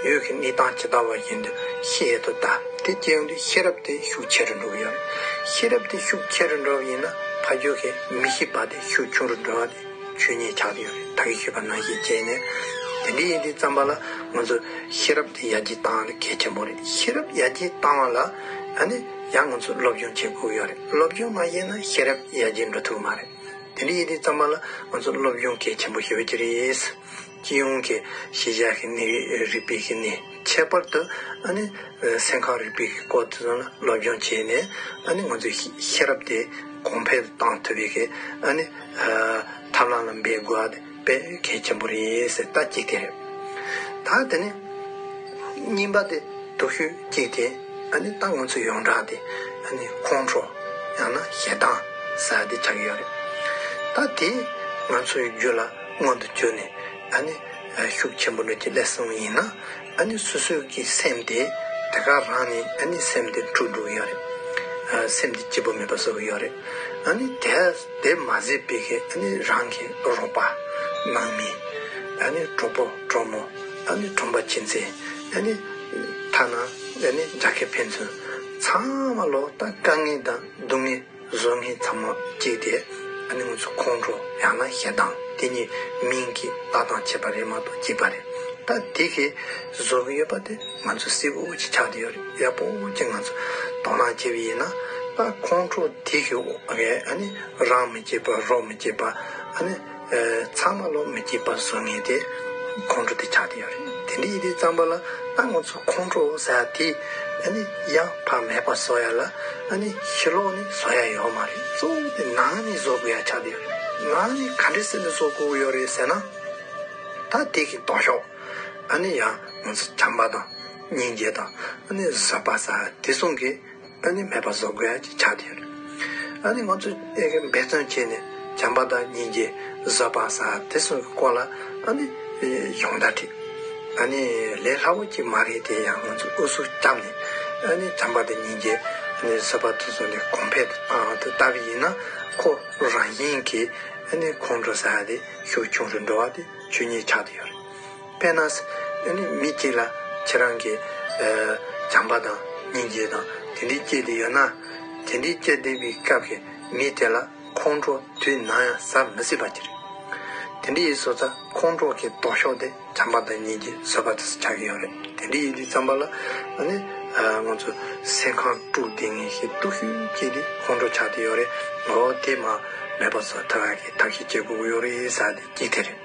ཡུལ་གྱི་གནས་སྟངས་ཇི་ལྟ་བ་བཞིན་དུ་ཤེས་ཐུབ་ལྟ། དེ་སྐྱེས་བུ་ཤེས་རབ་དེ་ཤུགས་ཆེ་རུ་འགྲོ་གི་ཡོད། ཤེས་རབ་དེ་ཤུགས་ཆེ་རུ་འགྲོ་བ་ཡིན་ན་ཕ་རྒྱུད་ཀྱི་མི་ཤེས་པ་དེ་ཤུགས་ཆུང་རུ་འགྲོ་བ་དེ་ཆོས་ཉིད་ཆགས་ཀྱི་ཡོད་རེད་ད་གིན་ཤེས་པ་ནང་བཞིན་བྱས་ནས་དེ་འདྲ་ཡིན་དུས་བརྩམས་པ་ལ་ང་ཚོ་ཤེས་རབ་དེ་ཡར་རྒྱས་བཏང་ན་གལ་ཆེན་པོ་རེད་ཤེས་རབ་ཡར་རྒྱས་བཏང་བ་ལ་ཡང་ང་ཚོ་སློབ་སྦྱོང་བྱེད་དགོས་ཀྱི་ཡོད་རེད་སློབ་སྦྱོང་མ་བྱས་ན་ཤེས་རབ་ཡར་རྒྱས་འགྲོ་ཐུབ་ཀྱི་མ་རེད། དེ་འདྲའི་ཡི་གེ་གཙང་མ་ལ་ང་ཚོ་སློབ་སྦྱོང་གལ་ཆེན་པོ་ཡོད་ཀྱི་རེད། སྤྱི་ཡོངས་ཀྱི་ཤེས་བྱ་ཞིག་ནི་རིགས་པའི་ཤིག་ནི་ཁྱད་པར་དུ་ནི་སེམས་ཁམས་རིག་པའི་སྐོར་དེ་ཚོ་ལ་སློབ་སྦྱོང་བྱས་ནས་ནི་ང་ཚོའི་ཤེས་རབ་དེ་གོང་འཕེལ་གཏང་ཐུབ་པའི་ཐབས་ལམ་ལ་འབད་དགོས། པའི་གལ་ཆེན་པོ་རེད་ཟེར་ད་གཅིག་དེ་རེད། ད་དེ་ནས། གཉིས་པ་དེ་སྡུག་ཤོས་གཅིག་དེ། ད་ནི་ད་ང་ཚོ་ཡོངས་གྲགས་དེ། ཁོང་ཁྲོ། ཡང་ན་ཞེ་སྡང། ཟ་དེ་ཆགས་ཀྱི་ཡོད་རེད། ད་དེ། ང་ཚོའི་རྒྱུད་ལ་སྔོན་དུ་བྱོན་ནས། ད་ནི། ཤུགས་ཆེན་པོ་འགྲོ་གི་སླད་གསུམ་ཡིན་ན། ཨ་ནི་སོ་སོའི་གི་སེམས་དེ་དེ་ག་རང་ནི་ཨ་ནི་སེམས་དེ་འཁྲུགས་འཁྲུགས་ཡོད་རེད་ཨ་སེམས་དེ་སྐྱིད་པོ་མེད་པ་བཟོ་གི་ཡོད་རེད་ཨ་ནི་དེ་དེ་མ་ཟེར་པའི་གི་ཨ་ནི་རང་གི་རོགས་པ་ནང་མི་ཨ་ནི་གྲོགས་པོ་གྲོགས་མོ་ཨ་ནི་གྲོང་པ་ཁྱིམ་མཚེས་ཨ་ནི་ཐ་ན་ཨ་ནི་རྒྱ་སྐད་ཕན་ཚུན་ཚང་མ་ལོག་ལྟ་དཀའ་ངལ་དང་སྡུག་བསྔལ། བཟོ་ངན་ཚང་མ་བཀྱིགས་ཏེ་ཨ་ནི་ང་ཚོ་ཁོང་ཁྲོ་ཡང་ན་ཞེ་སྡང་དེ་གཉིས་མིང་གི་བརྡ་དང་བྱེད་པ་རེད་མ་གཏོགས་བཀྱིགས་པ་རེད་ད་དེ་གས་བཟོ་གི་ཡོད་པ་དེ་ང་ཚོ་སེ་བོ་ཅི་ཆགས་ཏེ་ཡོད་རེད་ཡ་བོ་ཅི་ང་ཚོ་དོ་སྣང་བྱེད་པ་ཡིན་ན་ད་ཁོང་ཁྲོ་དེ་གས་ཨ་ནི་རང་མི་བཀྱིགས་པ་རོགས་མི་བཀྱིགས་པ་ཨ་ནི། ཚང་མ་ལོག་མི་སྐྱིད་པ་བཟོ་ངེས་ཏེ། ཁོང་ཁྲོ་དེ་ཆགས་ཏེ་ཡོད་རེད། དེ་འདྲའི་ཡི་གེ་གཙང་པ་ལ་ད་ང་ཚོ་ཁོང་ཁྲོ་ཟ་དེ། ཨ་ནི་ཡང་བག་མེད་པ་བཟོ་ཡ་ལ་ཨ་ནི་ཕྱི་ལོག་ནས་བཟོ་ཡ་ཡོད་མ་རེད་གཙོ་བོ་དེ་ནང་ནས་བཟོ་དགོས་ཡ་ཆགས་ཏེ་ཡོད་རེད། ནང་ནས་ག་འདྲའི་སེམས་ནས་བཟོ་དགོས་ཀྱི་ཡོད་རེད་ཟེར་ན། ད་དེ་གི་ལྡོག་ཤོག་ཨ་ནི་ཡང་ང་ཚོ་བྱམས་པ་དང་སྙིང་རྗེ་དང་ཨ་ནི་བཟོད་པ་ཟ་དེ་སོང་གི། ཨ་ནི་མེད་པ་བཟོ་དགོས་ཀྱི་ཆ་དེ་རེད། ཨ་ནི་ང་ཚོས་འབད་བརྩོན་བྱས་ནས་བྱམས་པ་དང་སྙིང་རྗེ་བཟོད་པ་ས་དེ་ཚོའི་སྐོར་ལ་ཨ་ནི་ཡོང་ད་དྲིས། ཨ་ནི་ལས་སླ་བོ་ཅིག་མ་རེད་དེ་ཡང་ང་ཚོས་ཨུ་ཚུགས་བརྒྱབ་ནས་ཨ་ནི་བྱམས་པ་དང་སྙིང་རྗེ་བཟོད་པ་དེ་ཚོ་ནི་གོང་འཕེལ་དུ་བཏང་དུ་ལྟ་བུ་ཡིན་ན་ཁོ་རང་བཞིན་གྱིས་ཨ་ནི་ཁོང་ཁྲོ་ས་དེ་ཤུགས་ཆུང་རུ་འགྲོ་བ་དེ་ཆོས་ཉིད་ཆགས་དེ་ཡོད་རེད། པས་ན། མི་སྐྱེ་ལ། ཁྱེད་རང་གིས། བྱམས་པ་དང། སྙིང་རྗེ་དང། དེ་འདྲའི་སྐྱེས་དེ་ཡོད་ན། དེ་འདྲའི་སྐྱེས་བསྡད་པའི་སྐབས་ཀྱི་མི་དེ་ལ་ཁོང་ཁྲོ་དུས་ནམ་ཡང་ཟ་མི་སྲིད་པ་དེ་རེད། དེ་འདྲའི་བཟོ་རྩལ་ཁོང་ཁྲོ་གི་ལྡོག་ཕྱོགས་དེ་བྱམས་པ་དང་སྙིང་རྗེ་བཟོད་པ་དེས་ཆགས་ཀྱི་ཡོད་རེད། དེ་འདྲའི་ཡུལ་དུས་བརྩམས་པ་ལ། ང་ཚོ་སེམས་ཁམས་དཀྲུག་བསྡད་ངེས་ཤིག་གཏུག་ཤུལ་སྐྱེས་དེ་ཁོང་ཁྲོ་ཆགས་དེ་ཡོད་རེད། འོ་དེ་མ་མེད་པ་བཟོ་ཐབས་གི་ཐབས་ཤིག་སྐྱེ་དགོས་ཀྱི་ཡོད་རེད་ཟ་དེ་སྐྱེས་དེ་རེད།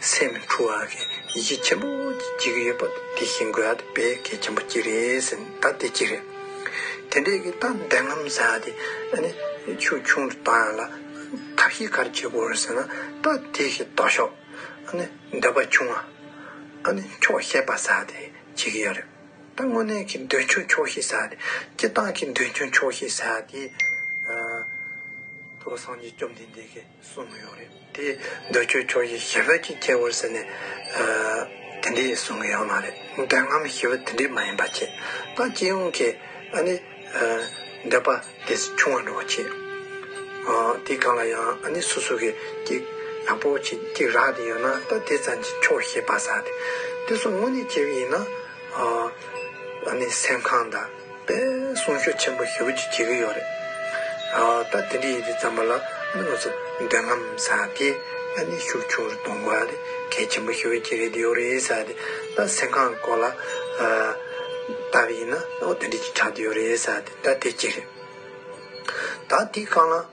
སེམས་འཁྲུག་བ་གི་ཡིད་ཆེས་ཆེན་པོ་བྱེད་ཀྱི་ཡོད་པ་དེ་ཤིན་དགོས་ཨ་ཏི་བེ་གེ་ཆེན་པོ་གཅིག་རེད་ཟེར་ནས་ད་དེ་གཅིག་རེད། དེ་འདྲས་ཀྱི་ད་འདས་རྔམ་བཟའ་དེ་ཨ་ནི་ཆུ་ཆུང་དུ་བཏང་ཡོང་ལ། ཐབས་ཤེས་ག་རེ་བྱེད་དགོས་རེད་ཟེར་ན་ད་དེ་ཞིག་ལྟོ་ཤོག་ཨ་ནི་འདོད་པ་ཆུང་ཨ་ནི་ཆོག་ཤེས་པ་ཟ་དེ་བྱེད་ཀྱི་ཡོད་རེད། ད་དངོས་གནས་ཀྱི་འདོད་ཆུང་ཆོག་ཤེས་ཟ་དེ་སྤྱི་བཏང་གི་འདོད་ཆུང་ཆོག་ཤེས་ཟ་དེ། ཨ། ཐུགས་ལ་སངས་རྒྱས་བཅོམ་ལྡན་འདས་ཀྱི། གསུང་གི་ཡོད་རེད་དེ། འདོད་ཆོས་ཆོས་ཀྱི་ཞི་བ་གཅིག་སྐྱེ་བར་ཟེར་ནས། དེ་འདྲའི་གསུང་གི་ཡོད་མ་རེད། འདོད་ཁམས་ཞི་བ་དེ་འདྲའི་མ་ཡིན་པ་ཆེ། ད་སྤྱི་ཡོངས་ཀྱི་འདོད་པ་དེ་ཆུང་བ་འགྲོ་བ་ཆེ། དེ་གང་ལ་ཡང་སོ་སོ་གི་ཅིག་ཡག་པོ་ཅིག་རག་དེ་ཡོད་ན་ད་དེ་ཙམ་གྱིས་ཆོག་ཤེས་པ་ཟ་དེ། དེ་སོགས་དངོས་གནས་བྱེད་ཀྱི་ཡིན་ན། སེམས་ཁམས་དང། པས་གསུང་ཤོག་ཆེན་པོ་ཞེ་བོ་གཅིག་བྱེད་ཀྱི་ཡོད་རེད། ཨ་ད་དེ་འདྲས་ཡིན་དུས་རྩམ་པ་ལ་མི་ལོ་ཚོ་འདོད་རྔམ་ས་དེ་ཨ་ནི་ཤུགས་ཆུང་རུ་གཏོང་དགོས་ཨ་དེ་གལ་ཆེན་པོ་ཞེ་བོ་གཅིག་རེད་དེ་ཡོད་རེད་ས་དེ་ད་སེམས་ཁང་སྐོར་ལ་ལྟ་བ་ཡིན་ན་ཨོ་དེ་འདྲས་གཅིག་གྲགས་དེ་ཡོད་རེད་ས་དེ་ད་དེ་གཅིག་རེད། ད་དེ་གང་ལ།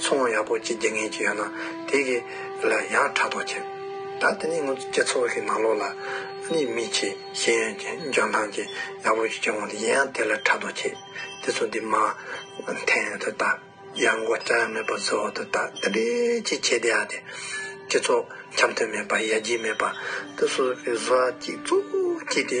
ཚོང་བ་ཡག་པོ་གཅིག་རྒྱག་མཁན་གཅིག་ཡོད་ན་དེ་གི་ལ་ཡང་ཕྲག་དོག་བྱེད། ད་དེ་ནི་ངོ་སྤྱི་ཚོགས་ཀྱི་ནང་ལོགས་ལ་ནི་མི་ཆེ་ཤེས་ཡོན་ཅན་འཇོན་ཐང་ཅན་ཡག་པོ་ཞིག་བྱུང་བ་དེ་གཞན་ཡང་དེ་ལ་ཕྲག་དོག་བྱེད། དེ་ཚོ་འདི་མ་འཐེན་ཡོད་དོ་ད་ཡར་མགོ་བཅག་ཡ་མེད་པ་བཟོ་འོ་དོ་ད་དེ་འདྲས་ཅིག་བྱེད་དེ་ཡ་དེ། སྤྱི་ཚོགས་འཆམ་མཐུན་མེད་པ་ཡ་རྒྱས་མེད་པ་དེ་སོ་སོ་གི་བཟོ་བ་གཅིག་གཙོ་གཅིག་དེ།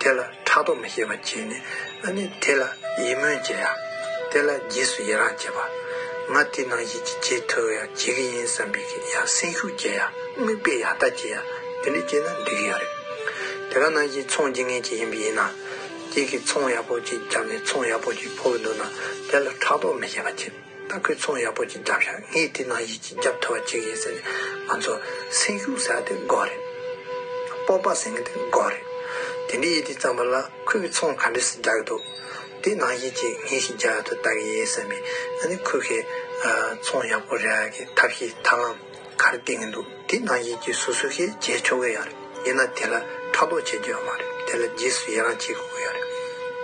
དེ་ལ་ཕྲག་དོག་མི་བྱེད་པར་བྱས་ནས་ཨ་ནི་དེ་ལ་ཡིད་སྨོན་བྱེད་ཡ། དེ་ལ་རྗེས་སུ་ཡི་རང་བྱེད་པ། ང་དེ་ནང་བཞིན་གྱི་རྗེས་མཐུད་ཡ་བྱེད་ཀྱི་ཡིན་བསམ་པས་ཀྱི་ཡ་སེམས་ཤུགས་བསྐྱེད་ཡ་དམིགས་པས་ཡ་ལྟ་བྱེད་ཡ་དེ་འདྲ་བྱས་ན་འགྲིག་གི་ཡ་རེད། དེ་ག་ནང་བཞིན་ཚོང་བྱེད་ངེས་ཅིག་ཡིན་པ་ཡིན་ན། ཁྱེད་ཀྱིས་ཚོང་ཡག་པོ་ཅིག་བརྒྱབ་ནས་ཚོང་ཡག་པོ་ཅིག་ཕོག་གི་འདུག་ན་དེ་ལ་ཕྲག་དོག་མི་བྱེད་པ་བྱེད། ད་ཁོས་ཚོང་ཡག་པོ་ཅིག་བརྒྱབ་ཤག་ངས་དེ་ནང་ཡིད་ཀྱི་རྒྱབ་ཐོ་བ་བྱེད་ཀྱི་ཡིན་ཟེར་ནས་ང་ཚོ་སེམས་ཤུགས་ཟ་དེ་འགོ་རེད། སྤོབས་པ་ཟིང་དེ་འགོ་རེད། དེ་འདྲའི་ཡིད་ཀྱི་རྩམ་པ་ལ་ཁོས་ཀྱི་ཚོང་ག་འདྲས་སུ་རྒྱག་གི་འདུག་དེ་ནང་ཡིད་ཅིག་ངས་ཞིག་རྒྱག་ཡག་ཐུབ་ལྟ་གི་ཡིན་བསམ་པས་ང་ནི་ཁོས་ཁོས་ཚོང་ཡག་པོ་རེག་གི་ཐབས་ཤེས་ཐབས་ལམ། གར་བསྟན་གྱི་འདུག་དེ་ན་ཡིད་ཀྱི་སོ་སོ་ཤེས་བྱའི་ཆོ་གའི་ཡ་རེད་ཡིན་ན་དེ་ལ་ཕྲག་དོག་བྱེད་རྒྱུ་ཡང་མ་རེད་དེ་ལ་རྗེས་སུ་ཡི་རང་བྱེད་དགོས་ཡ་རེད།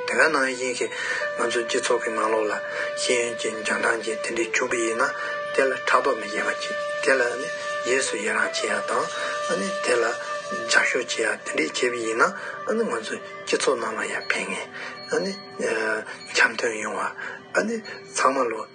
དེ་ག་ནང་བཞིན་ཞིག་ང་ཚོའི་སྤྱི་ཚོགས་ཀྱི་ནང་ལོགས་ལ་ཤེས་ཡོན་གྱི་འཇོན་ཐང་ཅན་དེ་འདྲས་བྱུང་གི་ཡིན་ན་དེ་ལ་ཕྲག་དོག་མི་བྱེད་པ་ཅིག་དེ་ལ་ནི་རྗེས་སུ་ཡི་རང་བྱེད་ཡ་དང་ཨ་ནི་དེ་ལ་ལྗགས་ཤོག་བྱེད་ཡ་དེ་འདྲས་བྱེད་པ་ཡིན་ན་ཨ་ནི་ང་ཚོའི་སྤྱི་ཚོགས་ནང་ལ་ཡ་ཕན་ངེས་ཨ་ནི་འཆམ་མཐུན་ཡོང་བ་ཨ་ནི་ཚང་མ་ལོ།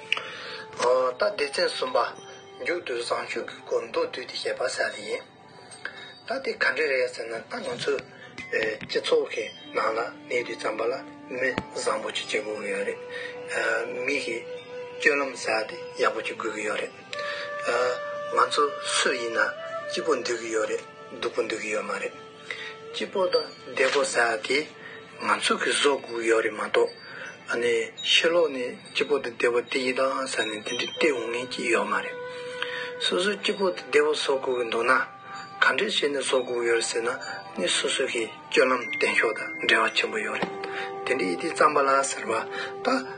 རྟ་སྡེ་ཚན་གསུམ་པ། མཇུག་ཏུ་བཟང་སྤྱོད་ཀྱི་སྐོར་མདོར་བསྡུས་ཏེ་བཤད་པ་གསལ་ལེ་ཡིན། རྟ་དེ་ག་འདྲ་རེད་ཟེར་ན་རྟ་ང་ཚོའི་སྤྱི་ཚོགས་ཀྱི་ནང་ལ་གནས་དུས་ཙམ་པ་ལ་མི་བཟང་པོ་ཅིག་བྱེད་དགོས་ཀྱི་ཡོད་རེད། མི་གི་སྤྱོད་ལམ་ཟེར་བ་དེ་ཡག་པོ་ཅིག་དགོས་ཀྱི་ཡོད་རེད། ང་ཚོ་སུ་ཡིན་ན་སྐྱིད་པོ་འདོད་ཀྱི་ཡོད་རེད་སྡུག་པོ་འདོད་ཀྱི་ཡོད་མ་རེད། སྐྱིད་པོ་དང་བདེ་པོ་ཟ་དེ། ང་ཚོ་གི་བཟོ་དགུ་ཡོད་རེད་མ་གཏོགས། ནས་ཕྱི་ལོག་ནས་སྐྱིད་པོ་དང་བདེ་པོ་དེ་ཡི་ད་ཟ་ནས་དེ་འདྲའི་སྟེར་འོང་ངེས་ཀྱི་ཡོད་མ་རེད། སོ་སོ་སྐྱིད་པོ་དང་བདེ་པོ་བཟོ་དགུ་གི་འདུག་ན། ག་འདྲས་བྱས་ནས་བཟོ་དགུ་ཡོད་རེད་ཟེར་ན་ནི་སོ་སོ་གི་སྐྱོན་ལམ་བསྟན་ཕྱོགས་དང་འབྲེལ་བ་ཆེན་པོ་ཡོད་རེད། དེ་འདྲའི་ཡི་དེ་རྩམ་པ་ལ་ཟེར་བ་ད།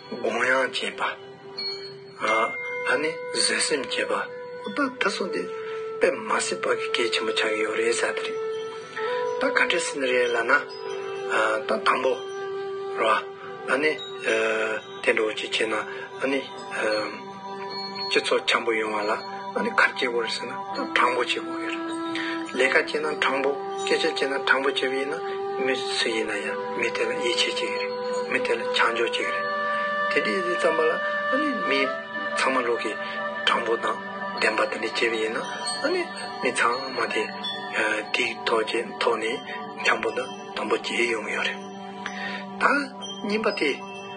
དགོངས་ཡངས་བསྐྱེད་པ། ཨ་ནི་བཟོད་སེམས་བསྐྱེད་པ། ད་ད་སོང་དེ་དཔེ་མ་སྲིད་དཔའ་གི་སྐད་ཆེན་པོ་ཆགས་ཀྱི་ཡོད་རེད་ས་དེ་རེད། ད་ག་འདྲས་ཟིན་རེད་ལ་ན། ད་དང་པོ་ར། ཨ་ནི། དེ་འགྲོ་བ་ཅིག་བྱེད་ན་ཨ་ནི། སྤྱི་ཚོགས་འཁྱམ་པོ་ཡོང་བ་ལ་ཁ་སྐྱེལ་དགོས་རེད་ཟེར་ན་དྲང་པོ་བྱེད་དགོས་ཀྱི་རེད། ལས་ཀ་བྱེད་ན་དྲང་པོ་སྐད་ཆ་བྱེད་ན་དྲང་པོ་བྱེད་པ་ཡིན་ན་མི་སུ་ཡིན་ན་ཡང་མི་དེ་ལ་ཡིད་ཆེས་བྱེད་ཀྱི་རེད། མི་དེ་ལ་བྱང་ཆུབ་བྱེད་ཀྱི་རེད། དེ་འདྲའི་ཡིད་ཆེས་བརྩམས་པ་ལ་མི་ཚང་མ་ལུགས་ཀྱི་དྲང་པོ་དང་བདེན་པ་དེ་འདྲ་བྱེད་པ་ཡིན་ན་མི་ཚང་མ་དེ་དེའི་ཐོག་ཀྱི་ཐོག་ནས་འཁྱམ་པོ་དང་དམ་པོ་བྱེད་ཡོང་གི་ཡོད་རེད། ད་སྙིང་པ་དེ་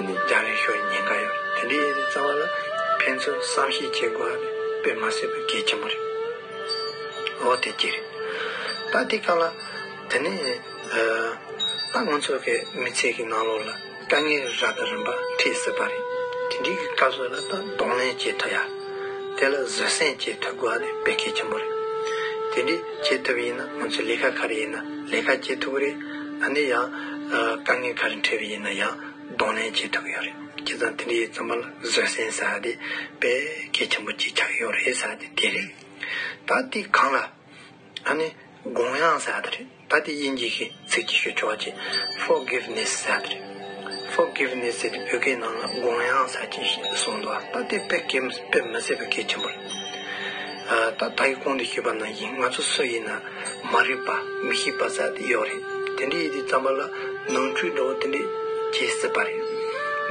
རྒྱ་རིང་ཤོས་ཉེན་ཁ་ཡོད་རེད་དེ་འདྲའི་ཡིན་ཟེར་རྩ་བ་ལ་ཕན་ཚུན་བསམ་ཤེས་བྱེད་དགོས་ཡ་དཔེ་མ་སྲིད་པ་གལ་ཆེན་པོ་རེད་འོ་དེ་གྱི་རེད་ད་དེ་ག་ལ་དེ་ནས་ད་ང་ཚོ་གི་མི་ཚེ་གི་ནང་ལོགས་ལ་དཀའ་ངལ་ར་དང་རིམ་པ་འཕྲད་སྲིད་པ་རེད་དེ་འདྲའི་གི་སྐབས་སུ་ལ་ད་གདོང་ལེན་བྱེད་ཐུབ་ཡ་དེ་ལ་བཟོད་བསྲན་བྱེད་ཐུབ་དགོས་ཡ་ནི་དཔེ་གལ་ཆེན་པོ་རེད་དེ་འདྲའི་བྱེད་ཐུབ་ཡིན་ན་ང་ཚོ་ལས་ཀ་ག་རེ་ཡིན་ན་ལས་ཀ་བྱེད་ཐུབ་རེད། ད་ནི་ཡང་དཀའ་ངལ་ག་རེ་འཕྲད་པ་ཡིན་ན་ཡང་གདོང་ལེན་བྱེད་ཐུབ་ཀྱི་ཡོད་རེད་ཁྱེད་ཚང་དེ་འདྲའི་རྩོམ་པ་ལ་བཟོད་བསྲན་ཟེར་བ་དེ་དཔེ་གལ་ཆེན་པོ་གཅིག་ཆགས་ཀྱི་ཡོད་རེད་ཟེར་བ་དེ་དེ་རེད། ད་འདི་གང་ལ་ད་ནི་དགོངས་ཡངས་ཟེར་བ་དེ་རེད་ད་འདི་དབྱིན་ཇི་གི་ཚིག་གཅིག་ཤོད་ཆོག་ཅེས Forgiveness ཟེར་བ་དེ་རེད། Forgiveness ཟེར་ཏེ་བོད་སྐད་ནང་ན་དགོངས་དབྱངས་ཟེར་གྱིན་ཞེས་གསུངས་འདུག་ད་ལྟའི་དཔེ་སྐད་དཔེ་མི་ཟེར་བའི་སྐད་ཆེན་པོ་རེད། ད་ད་ཡི་གོང་དུ་ཤེས་པ་ན་ཡིན་ང་ཚོ་སུ་ཡིན་ན་མ་རིག་པ་མི་ཤེས་པ་ཟེར་དེ་ཡོད་རེད་དེ་འདྲའི་ཡི་གེ་བརྩམས་པ་ལ་ནང་འཁྲུལ་འདྲ་བོ་དེ་འདྲས་བྱེད་སྲིད་པ་རེད།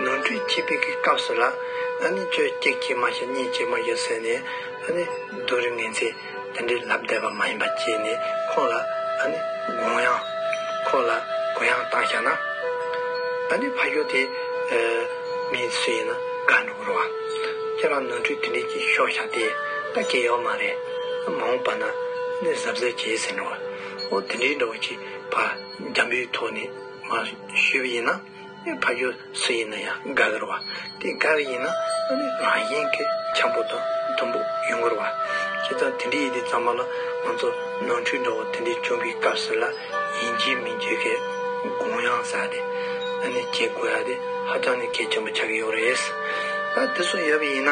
ནང་འཁྲུལ་བྱེད་པའི་གི་སྐབས་སུ་ལ་ཨ་ནི་ཁྱོད་གཅིག་བྱེད་མ་ཤེས་གཉིས་བྱེད་མ་ཤེས་ཟེར་ནས་ཨ་ནི་སྡུག་རི་ངན་ཚེ། དེ་འདྲའི་ལབ་བསྡད་པ་མ་ཡིན་པ་བཅས་ནས་ཁོང་ལ་དགོངས་ཡང། ཁོང་ལ་དགོངས་ཡང་བཏང་བཞག་ན། ད་ནི་ཕ་ཞོ་དེ། མི་སུ་ཡིན་ན་དགའ་འགྲོ་གི་རོ་ཨ། ཁྱེད་རང་ནོར་འཁྲུལ་དེ་འདྲས་ཀྱིས་ཤོག་བཞག་དེ་ད་སྐྱེ་ཡོག་མ་རེད། མ་འོངས་པ་ན་ནི་གཟབ་གཟབ་བྱེད་ཟེར་འགྲོ། ཨོ་དེ་འདྲའི་འདྲ་བོ་ཅིག་ཕ་རྒྱ་འབུའི་ཐོག་ནས་མ་ཞུས་པ་ཡིན་ན། ཕ་ཡུལ་སུ་ཡིན་ན་ཡང་དགའ་གི་རུ་བ། དེ་དགའ་གི་ཡིན་ན་རང་གཞན་གྱི་འཁྱམས་པོ་དང་དུམ་བུ་ཡོང་གི་རུ་བ། ཁྱེད་ཚང་དེ་འདྲའི་ཡི་གེ་གཙང་མ་ལ་ང་ཚོ་ནང་ཁྲོལ་འདྲ་བོ་དེ་འདྲའི་བྱུང་གི་སྐབས་སུ་ལ་ཡིན་གྱི་མིན་བརྗོད་མཁན་དགོངས་ཡངས་ས་དེ་བྱེད་དགོས་ཡ་དེ་ཧ་ཅང་ནས་གལ་ཆེན་པོ་ཆགས་ཀྱི་ཡོད་རེད། ད་དེ་སོགས་ཡོད་པ་ཡིན་ན་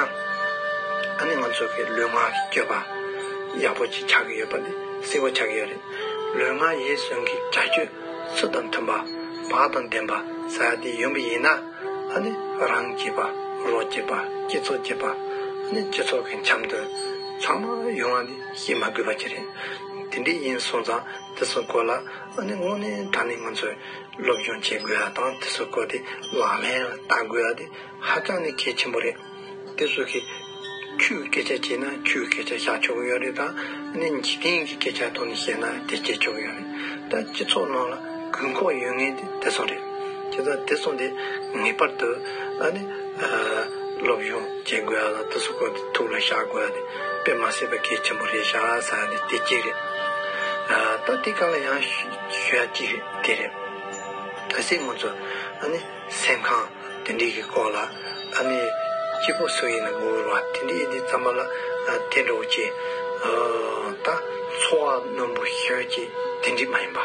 ང་ཚོ་གི་ལུས་ངག་གི་སྤྱོད་པ་ཡག་པོ་ཅིག་ཆགས་ཀྱི་ཡོད་པ་དེ་གསལ་བོ་ཆགས་ཀྱི་ཡོད་རེད། ལུས་ངག་ཡིད་གསུམ་གྱི་བྱ་སྤྱོད། སུ་དང་མཐུན་པ། བག་དང་ལྡན་པ་བཟའ་སྟེ་ཡོན་པོ་ཡིན་ན། རང་སྐྱེས་པ། རོ་སྐྱེས་པ། སྐྱེས་ཚོགས་སྐྱེས་པ། སྐྱེས་ཚོགས་ཀྱི་འཆམ་དོན། ཚང་མ་ཡོང་བ་ནི་ཤེས་མ་དགོས་པ་ཅི་རེད། དེ་འདྲའི་ཡིན་སོང་ཙང་དེ་སུ་གོ་ལ། དངོས་གནས་ད་ནི་ང་ཚོས་སློབ་སྦྱོང་བྱེད་དགོས་བ་དང་དེ་སུ་གོ་དེ་ལག་ལེན་ལ་བསྟར་དགོས་བ་དེ། ཧ་ཅང་ནས་གལ་ཆེན་པོ་རེད། དེ་སུ་གིས། ཆུའི་སྐད་ཆ་བྱས་ན་ཆུའི་སྐད་ཆ་བཞག་ཆོག་གི་ཡོད་རེད་དང་ནི་འཇིག་རྟེན་གྱི་སྐད་ཆ་ཐོག་ནས་བཤད་ན་དེ་བྱེད་ཆོག་གི་ཡོད་རེད། ད་སྤྱི་ཚོགས་ནང་ལ་དགོས་མཁོ་ཡོད་ངེས་དེ་དེ་སོང་རེད། ཁྱེད་ཚང་དེ་སོང་དེ་ངེས་པར་དུ་ཨ་ནི། སློབ་སྦྱོང་བྱེད་དགོས་ཡ་ལ་དེ་སུ་གོ་དེ་ཐུགས་ལ་བཞག་དགོས་ཡ་དེ་དཔེ་མ་སྲིད་པ་གལ་ཆེན་པོ་རེད་བཞག་ས་ཡ་ནི་དེ་གཅིག་རེད། ད་དེ་ག་ལ་ཡང་ཞུ་ཡ་གཅིག་རེད་དེ་རེད། གལ་སྲིད་ང་ཚོ་ཨ་ནི། སེམས་ཁམས་དེ་འདྲིས་ཀྱི་སྐོར་ལ་ཨ་ནེ་སྐྱིད་པོ་སུ་ཡིན་ན་འུར་བ་དེ་འདྲིས་འདི་རྩམ་པ་ལ་བལྟས་འགྲོ་གི་ཅི། ད་འཚོ་བ་རྣོན་པོ་ཤོད་ཀྱི་དེ་འདྲིས་མ་ཡིན་པ།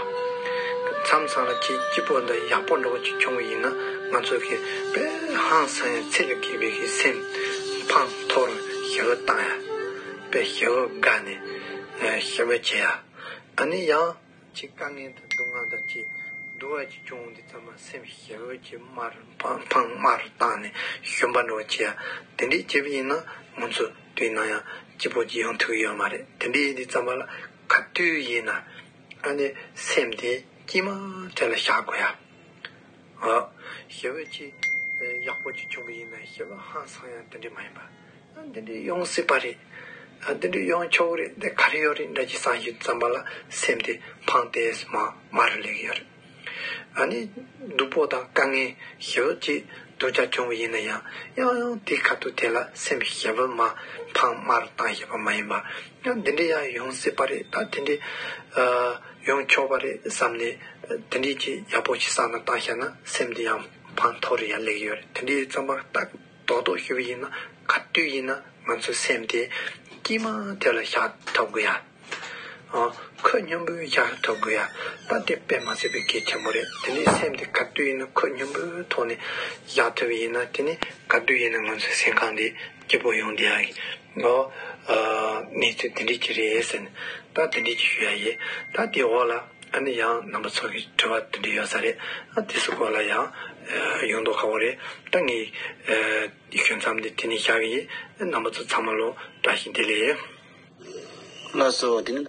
མཚམས་སངས་ར་ཁྱི་སྐྱིད་པོ་འདི་ཡག་པོ་འགྲོ་གི་ཆུང་གི་ཡིན་ན་ང་ཚོ་གི་པེ་ཧང་སངས་ཡ་ཚེ་ལ་དགེ་བའི་གི་སེམས་འཕང་མཐོ་རུ་ཞི་བ་བཏང་ཡ། པེ་ཞི་བ་དགའ་ནས་ཞི་བ་བྱེད་ཡ། ཨ་ནེ་ཡང། ཅིག་དཀའ་ངལ་དང་སྡུག་བསྔལ་དང་བཅས་འདུལ་བ་ཅིག་བྱུང་འོང་འདི་ཙམ་མ་སེམས་ཤིག་ཞེས་འོད་ཀྱི་དམར་འཕང་དམར་བཏང་ནས་ཞུམ་པ་འགྲོ་བར་བྱེད་ཡ། དེ་འདྲའི་སྐྱེས་བུ་ཡིན་ན་མོ་མཚོ་དུས་ནང་ཡང་སྐྱིད་པོ་ཅི་ཡང་ཐུག་ཡོད་མ་རེད་དེ་འདྲའི་ཡིད་འདི་ཙམ་པ་ལ་ག་དུས་ཡིན་ན་ཨ་ནེ་སེམས་དེ་དཀྱིལ་མ་དེ་ལ་བཞག་དགོས་ཡ། ཞེས་འོད་ཀྱི་ཡག་པོ་ཅིག་བྱུང་བ་ཡིན་ན་ཞེས་ལ་ཧང་སང་ཡང་དེ་འདྲའི་མ་ཡིན་པ། འདི་འདྲས་ཡོང་སྲིད་པ་རེད། འདི་འདྲས་ཡོང་ཆོག་གི་རེད་འདི་ག་རེ་ཡོད་རེད་འདྲ་ཅི་བསམ་བཞིན་བརྩམས་པ་ལ་སེམས་དེ་ཕངས་ཏེ་མ་མ་རུ་ལེགས་ཡོད་རེད། ཨ་ནི་སྡུག་པོ་དང་དཀའ་ངལ་ཞི་བོ་ཅིག་སྡུག་ཅག་བྱུང་བ་ཡིན་ན་ཡང་ཡང་ཡང་དེ་ག་དུས་དེ་ལ་སེམས་ཞི་བོ་མ་ཕངས་མ་རུ་བཏང་ཞེས་པ་མ་ཡིན་པར་ཡང་འདི་འདྲས་ཡང་ཡོང་སྲིད་པ་རེད་ད་དེ་འདྲས་ཡོང་ཆོག་པ་རེད་བསམས་ནས་དེ་འདྲས་ཅིག་ཡག་པོ་ཞིག་བསགས་ན་བཏང་ཤག་ན་སེམས་དེ་ཡང་ཕངས་མཐོ་རུ་ཡང་ལེགས་ཡོད་རེད་དེ་འདྲས་བརྩམས་པ་ལྟ་རྡོག་རྡོག་ཞུ་བ་ཡིན་ན་ག་དུས་ཡིན་ན་ང་ཚོའི་སེམས་དེ་སྐྱིད་མ་དེ་ལ་བཞག་ཐབས་དགོས་ཡ། ཁོད་སྙོམས་པོའི་བཞག་ཐབས་དགོས་ཡ། ད་དེ་དཔེ་མ་ཟད་པའི་གལ་ཆེན་པོ་རེད་དེ་ནས་སེམས་དེ་ག་དུས་ཡིན་ན་ཁོད་སྙོམས་པོའི་ཐོག་ནས་བཞག་ཐུབ་ཡིན་ན་དེ་ནས་ག་དུས་ཡིན་ན་ང་ཚོའི་སེམས་ཁམས་དེ་སྐྱིད་པོ་ཡོང་བསྡད་ཡ། ངོ། ངས་ཚོད་འདི་འདྲས་ཀྱི་རེད་ཟེར་ནས་ད་དེ་འདྲས་ཀྱི་ཞུ་ཡ་ཡིན། ད་དེའི་འོག་ལ་ཨ་ནི་ཡང་རྣམ་པ་ཚོགས་ཀྱི་དྲི་བ་དེ་འདྲས་ཡོད་ས་རེད་ཨ་དེ་སུ་སྐོར་ལ་ཡང་ཡོང་མདོག་ཁ་བོ་རེད་ད་ངས་ཞུ་མཚམས་འདི་དེ་ནས་བཞག་གི་ཡིན་རྣམ་པ་ཚོ་ཚང་མ་ལོ་བཀྲ་ཤིས་བདེ་ལེགས། ལགས་སོ་དེ་ནི།